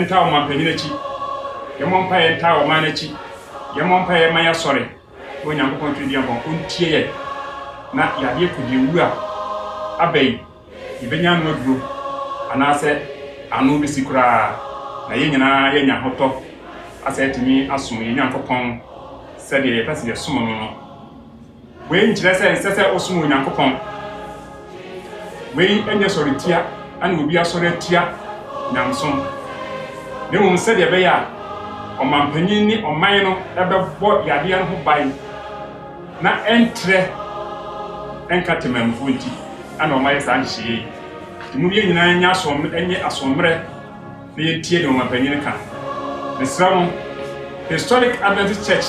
ntaa ɔmampanyin akyi. Yɛmmɔ mpaeɛ ntaa ɔman no akyi. Yɛmmɔ mpaeɛ mma yɛasɔre na Onyankopɔn Tweneduampɔn ɔntie yɛn na yadeɛ kɔdiawu a aba yi, yɛbɛnya ano aduro anaasɛ ano bɛsi koraa na yɛn nyinaa yɛanya ahotɔ asɛ atumi asom yɛn Nyankopɔn sɛdeɛ yɛpɛ sɛ yɛsom no no. Wei nkyerɛ sɛ ɛnsɛ sɛ wosom Onyankopɔn. Wei nyɛ sɔretia ne obi asɔre atia nyamesom, na mmom sɛdeɛ ɛbɛyɛ a ɔmampanyin ne ɔman no bɛbɔ yadeɛ no ho ban na ɛntrɛ nka temanmufoɔ nti na wɔayɛ saa nhyehyɛeɛ yi. Nti mo yɛn nyinaa nyɛ asoɔmmerɛ, nyɛ asoɔmmerɛ na yɛntie deɛ ɔmampanyin no ka. Mesrɛ mo, Historic Adventist Church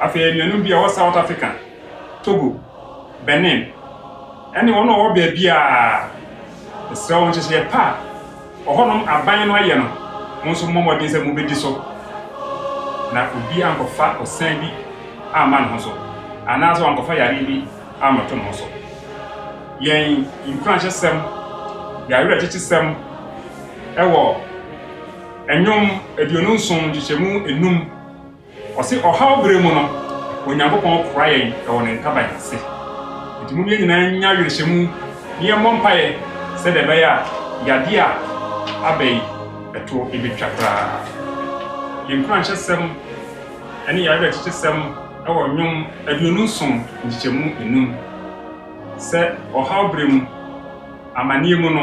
Afei anuanom bi a wɔwɔ South Africa, Togo, Benin, ne wɔn a wɔwɔ baabiara, mesrɛ wo, nhyehyɛe pa a ɔhɔnom aban no ayɛ no, mo nso mommɔ mmɔden sɛ mubedi so, na obi ankɔfa osian bi amma ne ho so, anaasɛ wankɔfa yare bi ammɛto ne ho so. Yɛn nkuranhyɛsɛm, yɛn awerɛkyekyesɛm wɔ Nnwom aduonu nson nkyekyɛmu nnum. Ɔse, Ɔhaw bere mu no, Onyankopɔn kora yɛn wɔ Ne ntaban ase. Enti mom yɛn nyinaa nnya awerɛhyɛmu na yɛmmɔ mpaeɛ sɛdeɛ ɛbɛyɛ a yadeɛ a aba yi toɔ bɛtwa koraa. Yɛn nkuranhyɛsɛm ne yɛn awerɛkyekyesɛm wɔ Nnwom aduonu nson nkyekyɛmu nnum sɛ ɔhaw bere mu, amaneɛ mu no,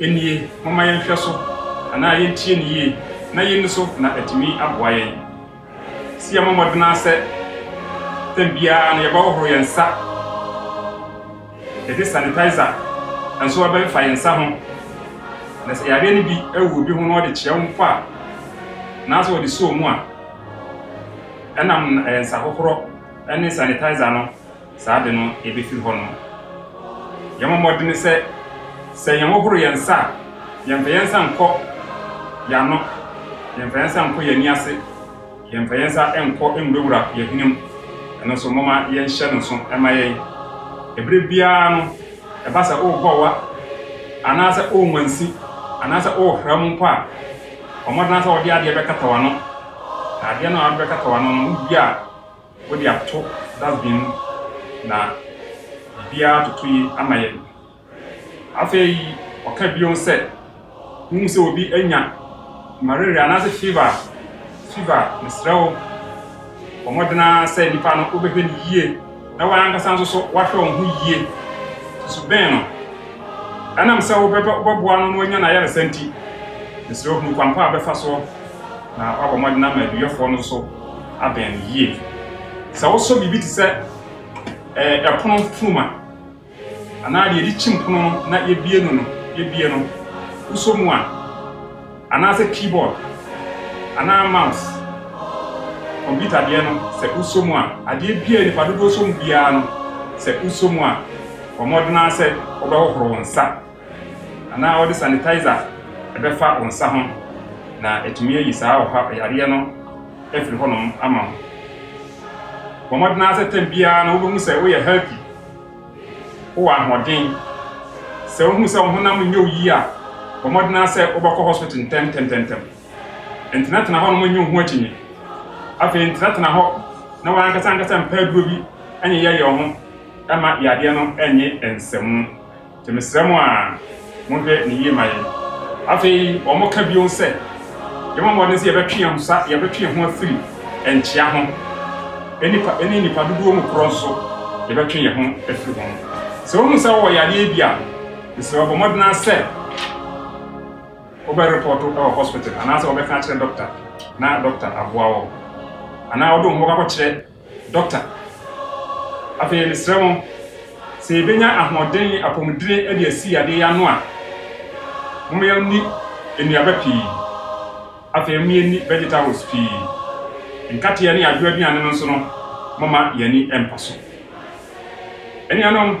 Ennie, momma yɛnhwɛ so, anaa yentie no yie na yenni so na atumi aboa yɛn. Se yɛmmɔ mmɔden ara sɛ tɛm biara no yɛbɛhohoro yɛn nsa, yɛde sanitizer nso abɛmfa yɛn nsa ho, na sɛ yareɛ no bi awu obi ho na ɔde kyerɛ wo mpo a, anaasɛ ɔde soo mu a, ɛnam nsahohorɔ ne sanitizer no saa ade no befi hɔ no. Yɛmmɔ mmɔden sɛ sɛ yɛhohoro yɛn nsa a, yɛmfa yɛn nsa nkɔ yɛn ano, yɛmfa yɛn nsa nkɔ yɛn ani ase, yɛmfa yɛn nsa nkɔ nwurawura yɛn hwene mu. Ɛno nso, momma yɛnhyɛ no nso mma yɛn. Bere biara no, ɛba sɛ worebɔ wa anaasɛ worenwansi anaasɛ worehra mu mpo a, bɔ mmɔden ara sɛ wode adeɛ bɛkata w'ano, na adeɛ no a wode bɛkata w'ano no, wodua a, Wode ato dustbin mu na biribiara atoto yi ama yɛn. Afei ɔka bio sɛ, Wuhu sɛ obi anya malaria anaasɛ fever a, fever a, mesrɛ wo, bɔ mmɔden ara sɛ nipa no wobɛhwɛ no yie na w'ankasa nso so woahwɛ wo ho yie. Susu bɛn no? Ɛnam sɛ wobɛboa no na wanya n'ayaresa nti, mesrɛ wo hunu kwan pa a wobɛfa soɔ. na wabɔ mmɔden ama aduyɛfoɔ no so abɛn no yie. Sɛ wosɔ biribi te sɛ ɛpono funuma anaa deɛ yɛde kyim pono no na yɛbie no no yɛbie no wosɔ mu a anaasɛ keyboard anaa mouse kɔmputa deɛ no sɛ wosɔ mu a adeɛ biara nipa dodoɔ sɔ mu biara no sɛ wosɔ mu a wɔmmɔdena sɛ wɔbɛhohoro wo nsa anaa wɔde sanitizer bɛfa wo nsa ho na atumi ayi saa ɔha yareɛ no afiri hɔnom ama wo. Bɔ mmɔden ara sɛ tɛm biara no wobɛhu sɛ woyɛ healthy, wowɔ ahoɔden. Sɛ wohu sɛ wo honam nyɛ wo yie a, bɔ mmɔden ara sɛ wobɛkɔ hospital ntɛmntɛmntɛmntɛm. Ntenatena hɔnom nyi wo ho akyinnye. Afei ntenatena hɔ na w'ankasa ankasa mpa aduro bi nyeyɛyɛ wo ho mma yareɛ no nnye nsamu. Nti mesrɛ mo a monhwɛ no yie ma yɛn. Afei wɔka bio sɛ, Yɛbɔ mmɔden sɛ yɛbɛtwe yɛn ho sa, yɛbɛtwe yɛn ho afiri nkyea ho, nnipa, ne nnipa dodoɔ mu korɔ nso, yɛbɛtwe yɛn ho afiri ho. Sɛ wohu sɛ wowɔ yadeɛ bi a, mesrɛ wo bɔ mmɔden ara sɛ wobɛrepɔto wɔ hospital, anaasɛ wobɛka akyerɛ dɔkta na dɔkta aboa wo, anaa wode wo ho bɛkɔ akɔkyerɛ Dɔkta. Afei yɛresrɛ mo sɛ yɛbɛnya ahoɔden ne apɔmudene de asi yadeɛ yi ano a, momma yɛnni nnuaba pii. Afei momma yɛnni vegetables pii. Nkateɛ ne adwoa aduane no nso no, momma yɛn ani mpa so. Anuanom.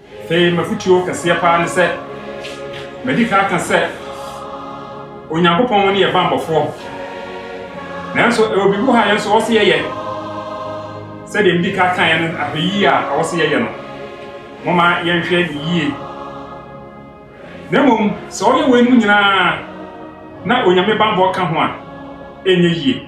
Afei m'afotuo kɛseɛ paa ne sɛ, madi kan aka sɛ Onyankopɔn ne yɛn bammɔfoɔ. Nanso ɛwɔ biribi hɔ a yɛn nso ɔwɔ sɛ yɛyɛ. Sɛdeɛ medi kan kaeɛ no, ahwɛyie a ɛwɔ sɛ yɛyɛ no, momma yɛnhwɛ no yie. Na mmom, sɛ ɔyɛ weinom nyinaa na Onyame bammɔ ka ho a, ɛnyɛ yie.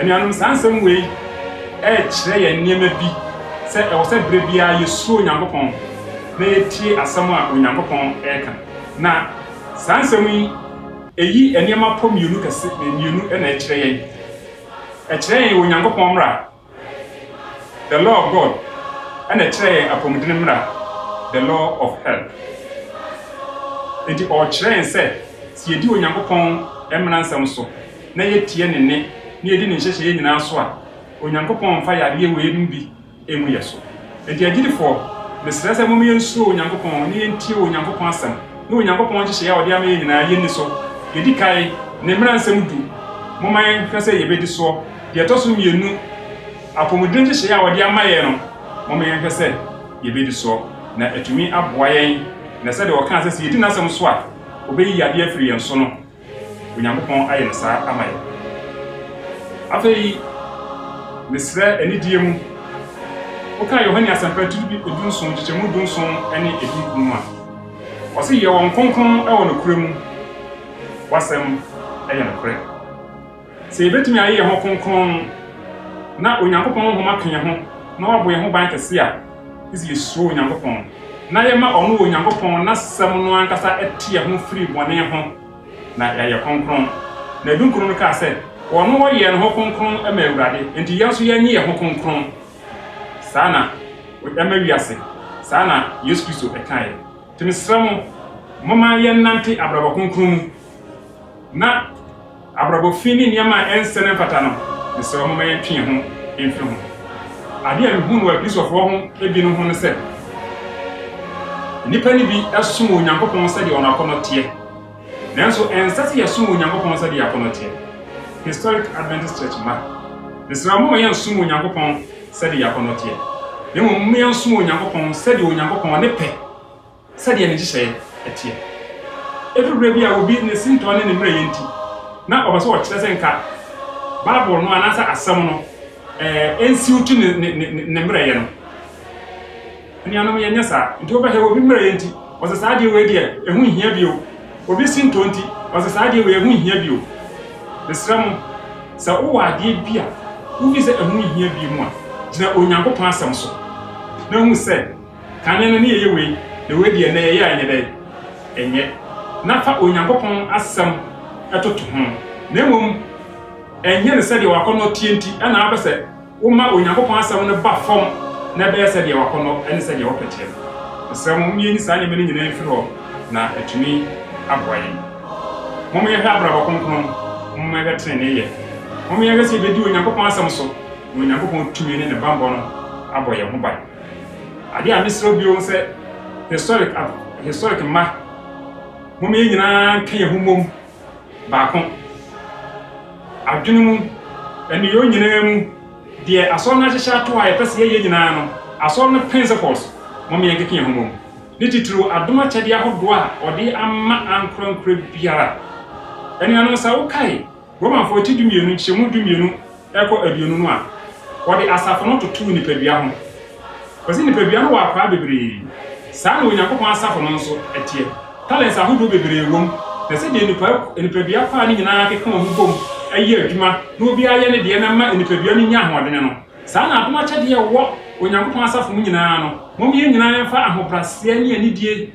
Anuanom, saa nsɛm wei rekyerɛ yɛn nneɛma bi, sɛ ɛwɔ sɛ berɛ biara yɛsuro Onyankopɔn na yɛtie asɛm a Onyankopɔn reka. Na saa nsɛm yi, ɛyi nneɛma pɔ mmienu kɛse, mmienu na ɛkyerɛ yɛn. Ɛkyerɛ yɛn Onyankopɔn mmara, the law of God, ɛna ɛkyerɛ yɛn apɔmuden mmara, the law of hell. Enti ɔrekyerɛ yɛn sɛ, sɛ yɛdi Onyankopɔn mmara nsɛm so, na yɛtie ne nne na yɛdi ne nhyehyɛeɛ nyinaa so a, Onyankopɔn mfa yadeɛ weinom bi ngu yɛn so. Enti agyidifoɔ, mesrɛ sɛ momma yɛnsuro Onyankopɔn na yɛntie Onyankopɔn asɛm ne Onyankopɔn nhyehyɛeɛ a ɔde ama yɛn nyinaa, yɛnni so. Yɛdi kae, ne mmaransɛm du, momma yɛnhwɛ sɛ yɛbɛdi soɔ. Deɛ ɛtɔ so mmienu, apɔmuden nhyehyɛeɛ a ɔde ama yɛn no, momma yɛnhwɛ sɛ yɛbɛdi soɔ, na atumi aboa yɛn. Na sɛdeɛ ɔkaa sɛ sɛ yɛdi n'asɛm so a, ɔbɛyi yadeɛ afiri yɛn so no, Onyankopɔn ayɛ no saa ama yɛn. Afei, mesrɛ anidie mu, wokan Yohane Asɛmpa ti dunson, nkyekyɛmu dunson ne edunkron mu a, ɔse, Yɛ wɔn kronkron wɔ nokorɛ mu, w'asɛm yɛ nokorɛ. Sɛ yebetumi ayɛ yɛn ho kronkron na Onyankopɔn honhom aka yɛn ho na wabɔ yɛn ho ban kɛse a, gye sɛ yesuro Onyankopɔn na yɛma ɔno Onyankopɔn n'Asɛm no ankasa te yɛn ho firi bɔne ho na yɛayɛ kronkron. Na dunkron no kaa sɛ, Wɔn wɔyɛɛ ne ho kronkron ma Awurade, enti yɛn nso yɛnyɛ yɛn ho kronkron saa na ɛma wiase. Saa na Yesu Kristo kaeɛ. Nti mesrɛ mo, momma yɛnnante abrabɔ kronkron mu na. Abrabɔ fi ne nneɛma a ɛnsɛ na ɛmfata no, mesrɛ wo momma yɛntwe yɛn ho mfiri ho. Ade a mehuu no wɔ Akristofoɔ ho bi no ho ne sɛ, nnipa no bi som Onyankopɔn sɛdeɛ wɔn akɔnnɔ teɛ. Nanso ɛnsɛ sɛ yɛsom Onyankopɔn sɛdeɛ yɛn akɔnnɔ teɛ. Historic Adventist Church mma, mesrɛ wo momma yɛnsom Onyankopɔn sɛdeɛ yɛn akɔnnɔ teɛ, na mmom momma yɛnsom Onyankopɔn sɛdeɛ Onyankopɔn ne pɛ. Sɛdeɛ ne nhyehyɛeɛ teɛ. Ɛduru berɛ bi a obi ne sintɔ ne ne mmerɛyɛ nti, na ɔpɛ sɛ ɔkyerɛ sɛ nka Bible no anaasɛ asɛm no nsiw to ne mmerɛyɛ no. Anuanom, yɛnyɛ saa. Nti wobɛhwɛ, obi mmerɛyɛ nti, ɔse saa adeɛ wei deɛ, ɛho nhia bio. Obi sintɔ nti, ɔse saa adeɛ wei, ɛho nhia bio. Mesrɛ mo, sɛ wowɔ adeɛ bi a wofi sɛ ɛho nhia bio mu a, gyina Onyankopɔn asɛm so na hu sɛ, Kane no ne yɛyɛ wei, na wei deɛ nnɛ yɛyɛ a ɛnyɛ dɛn? Ɛnyɛ. Na fa Onyankopɔn Asɛm toto ho, na mmom ɛnyɛ no sɛdeɛ w'akɔnnɔ teɛ nti na wopɛ sɛ woma Onyankopɔn Asɛm no ba fam na ɛbɛyɛ sɛdeɛ w'akɔnnɔ ne sɛdeɛ wopɛ teɛ no. Mesrɛ mo, momma yɛnyi saa nneɛma no nyinaa mfiri hɔ, na atumi aboa yɛn. Momma yɛnhwɛ abrabɔ kronkron, momma yɛnhwɛ teneneeyɛ. Momma yɛnhwɛ sɛ yɛbɛdi Onyankopɔn Asɛm so, na Onyankopɔn tumi ne ne bammɔ no abɔ yɛn ho ban. Adeɛ a mesrɛ bio sɛ historic ab historic mma mom yɛn nyinaa nka yɛn ho mmom baako adwene mu ɛne yɛn nyinaa mu deɛ asɔre no ahyehyɛ ato a yɛpɛ sɛ yɛyɛ nyinaa no asɔre no principles mom yɛn keka yɛn ho mmom ne titiriw adom akyɛdeɛ ahodoɔ a ɔde ama ankorankora biara ɛne anom sɛ wokae Romafo akyi dumienu nkyɛmu dumienu rekɔ aduonu no a, wɔde asafo no totoo nipadua ho. Wɔse nipadua no wɔ akwaa bebree. Saa na Onyankopɔn asafo no nso teɛ. Talents ahodoɔ bebree wom, na sɛdeɛ nnipa nipadua kwaa no nyinaa keka wɔn ho bom yɛ adwuma na obiara yɛ ne deɛ na ɛma nipadua no nya ahoɔdene no, saa na adom akyɛdeɛ a ɛwɔ Onyankopɔn asafo mu nyinaa no, mom yɛn nyinaa mfa ahobraseɛ ne anidie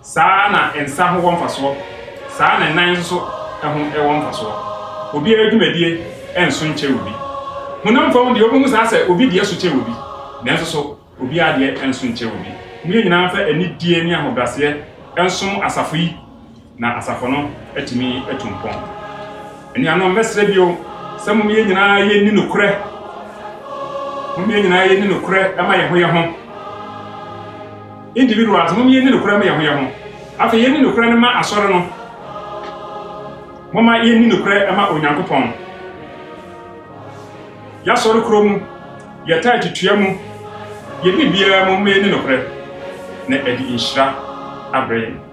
Saa ara na nsa ho wɔ mfasoɔ, saa ara na nan nso so ho wɔ mfasoɔ. Obiara dwumadie nso nkyɛre obi. Honam fam deɛ, wobɛhu saa sɛ obi deɛ so kyɛre obi, nanso so obiara deɛ nso nkyɛre obi. Mo yɛn nyinaa mfa anidie ne ahobraseɛ nsom asafo yi, na asafo no atumi atu mpɔn. Anuanom, mɛsrɛ bio sɛ mom yɛn nyinaa yɛnni nokorɛ, mom yɛn nyinaa yɛnni nokorɛ ma yɛn ho yɛn ho. Individuals, mom yenni nokorɛ mma yɛn ho yɛn ho. Afei yenni nokorɛ no mma Asɔre no. Momma yenni nokorɛ mma Onyankopɔn. Y'Asɔre korɔ mu, yɛ tithe tua mu, yɛ biribiara mu mma yenni nokorɛ, na ɛde nhyira abrɛ yɛn.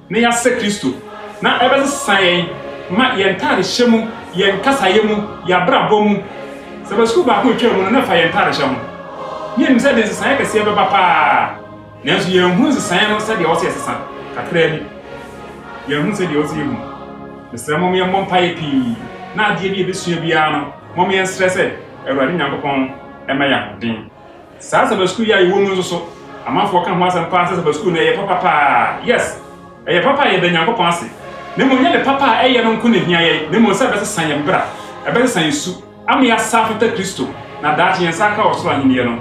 na yɛasɛ Kristo, na ɛbɛsesã yɛn ma yɛn ntadehyɛ mu, yɛn kasayɛ mu, yɛn abrabɔ mu. Sɛ ba sukuu baako retwam no, na ɛfa yɛn ntadehyɛ ho. Na yenim sɛ ɛde nsesaeɛ kɛseɛ bɛba paa, nanso yɛanhunu nsesaeɛ no sɛdeɛ ɛwɔ sɛ yɛsesa. Kakraa bi, yɛahunu sɛdeɛ ɛwɔ sɛ yɛhu no. Mesrɛ mo, mommɔ mpaeɛ pii, na adeɛ bi a yɛbɛsua biara no, momma yɛnsrɛ sɛ Awurade Nyankopɔn mma yɛn ahoɔden. Saa Sabbath School yi a yɛwɔ mu nso so, amanfoɔ ka ho asɛm paa sɛ Sabbath School no ɛyɛ papa paa. Yes, ɛyɛ papa a yɛda Nyankopɔn ase. Na mmom nyɛ ne papa a ɛyɛ no nko na ɛhia yɛn, na mmom sɛ ɛbɛsesa yɛn bra, ɛbɛsesa yɛn su, ama yɛasa afata Kristo, na daakye yɛn nsa aka wɔ Soro Ahennie no.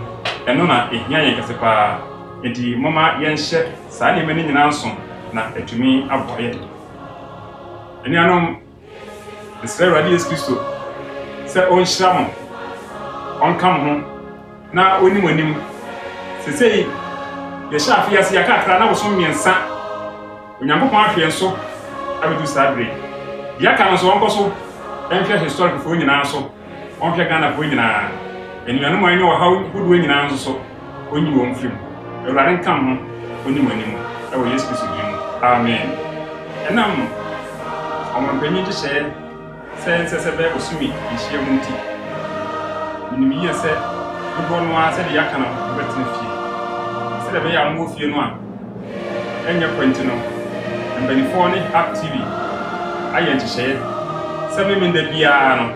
Ɛno na ɛhia yɛn kɛse paa. Enti momma yɛnhyɛ saa nneɛma no nyinaa nso na atumi aboa yɛn. Anuanom. Mesrɛ Awurade Yesu Kristo sɛ ɔnhyira mo, ɔnka mo ho, na ɔnni mo anim. Sesei, yɛhyɛ afe yi ase yɛaka akra na bosom mmiɛnsa. Onyankopɔn ahwɛ yɛn so abɛdu saa bere. Deɛ aka no nso ɔnkɔ so nhwɛ historic foɔ nyinaa so. Ɔnhwɛ Ghanafoɔ nyinaa, anuanom a wɔanya ɔhaw hodoɔ nyinaa nso so, Ɔnyi wɔn mfiri mu. Awurade nka mo ho, Ɔnni mo anim, wɔ Yesu Kristo din mu, amen. Ɛnam Ɔmanpanyin nhyehyɛeɛ sɛ ɛnsɛ sɛ ɛbɛyɛ bosome nhyiamu nti, menim yie sɛ dodoɔ no ara sɛdeɛ yɛaka no mobɛtena fie. Sɛdeɛ ɛbɛyɛ a mowɔ fie no a, ɛnyɛ kɔ nti no, mpanimfoɔ ne App TV ayɛ nhyehyɛeɛ sɛ Memeneda biara no,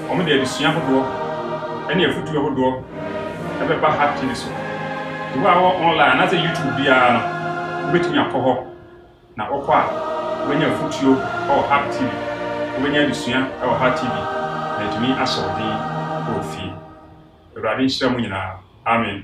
wɔde adesua ahodoɔ ne afotuo ahodoɔ bɛba App TV so. Nti wo a wɔ online anaasɛ YouTube biara no, wobɛtumi akɔ hɔ na wokɔ a wobɛnya afotuo wɔ App TV, wobɛnya adesua wɔ App TV na atumi ahyɛ wo den wɔ fie. Awurade nhyira mu nyinaa. Amen.